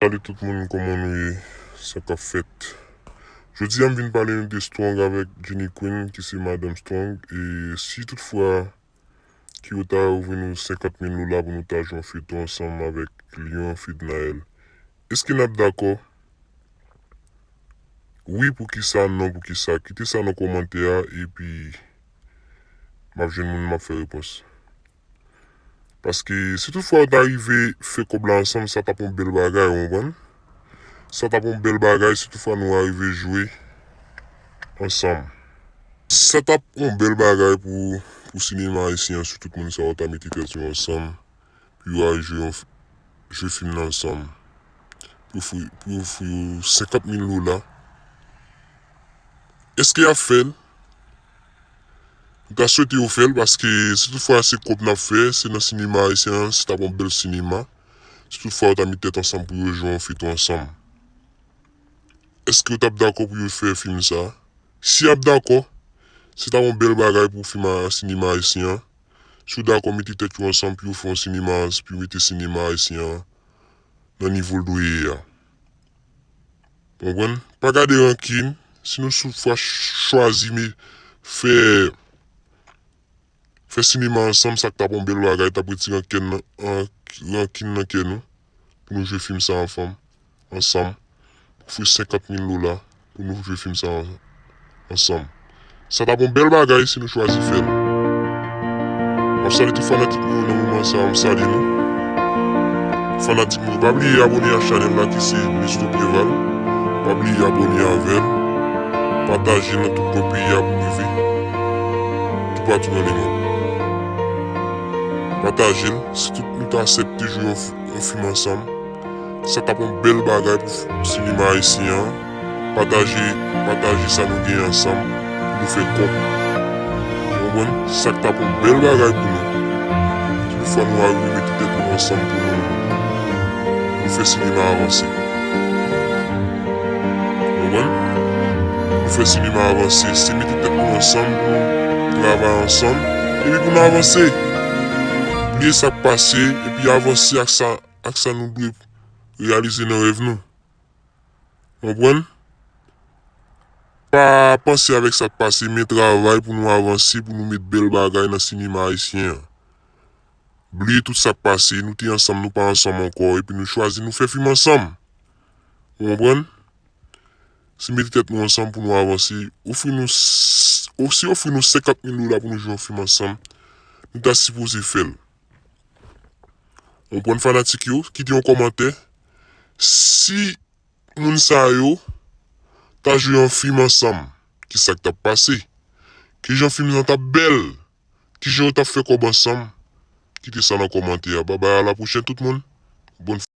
Salut tout moun koman nou ye sa kap fèt Jodi a m vin pale nou de strong avèk Jenny Queen ki se madanm strong e si tout fwa ki yo ta ouvri nou 50 mil lola pou nou ta jwe yon feyton ansanm avèk lion fednaelle eske nap dakò wi poukisa non poukisa kite sa nan kòmantè a epi map jwenn moun map fè repons Paske si tout fwa yo ta rive fè kòb la ansanm sa tap yon bèl bagay ou konprann. Sa tap yon bèl bagay si tout fwa nou arive jwe ansanm. Sa tap yon bèl bagay pou pou sinema ayisyen an si tout moun sa yo ta mete tèt yo ansanm pou yo al jwe yon jwe fim nan ansanm. Pou ofri pou yo ofri yo 50 mil dola. Eske yap fèl? M ta swete yo fèl paske si tout fwa se kòb nap fè se nan sinema ayisyen an se tap yon bèl sinema si tout fwa yo ta met tèt ansanm pou yo jwe yon feyton ansanm eskew tap dakò pou yo fè fim sa si yap dakò se tap yon bèl bagay pou fim sinema ayisyen an si yo dakò mete tèt yo ansanm pou yo fè yon sinema pou yo mete sinema ayisyen an nan nivol dwe ye a. Konprann? Pa gade rankin, si nou sou fwa chwazi me fè fè sinema ansanm sa tap yon bèl bagay, tap retire ankenn nan rankin nan kè nou pou nou jwe fim sa anfam ansanm pou fè 50 mil dola. pou nou jwe fim sa ansanm. Sa tap yon bèl bagay si nou chwazi fèl. Map salye tout fanatik mwen yo nan moman sa m salye nou. Fanatik mwen yo pa bliye abone a chanèl la ki se Nestor Preval. Pa bliye abone avèm. Pataje nan tout kwen peyi a pou rive tou patou nan le mond. Patajel si tout nou ta asèpte jwe yon fim ansanm. Sa tap yon bel bagay pou sinema ayisyen an pataje pataje sa nou gen ansanm pou nou fè kòb ou konprann sak tap yon bel bagay pou nou ki pou fè nou arive mete tèt nou ansanm pou nou pou nou fè sinema avanse ou konprann pou nou fè sinema avanse se mete tèt nou ansanm pou nou travay ansanm epi pou nou avanse bliye sak pase epi avanse ak sa. ak sa nou dwe reyalize nan rèv nou. Ou konprann? Pa panse avèk sa k pase men travay pou nou avanse pou nou met bèl bagay nan sinema ayisyen an. Bliye tout sa k pase, nou te ansanm nou pa ansanm ankò epi nou chwazi nou fè fim ansanm. Ou konprann? Si mete tèt nou ansanm pou nou avanse, ofri nou si ofri nou 50 mil dola pou nou jwe yon fim ansanm, nou ta sipoze fè l. Konprann fanatik yo kite yon kòmantè si moun sa yo ta jwe yon fim ansanm kisak tap pase kijan fim nan tap bèl kijan yo tap fè kòb ansanm kite sa nan kòmantè a babay a la pwochèn tout moun.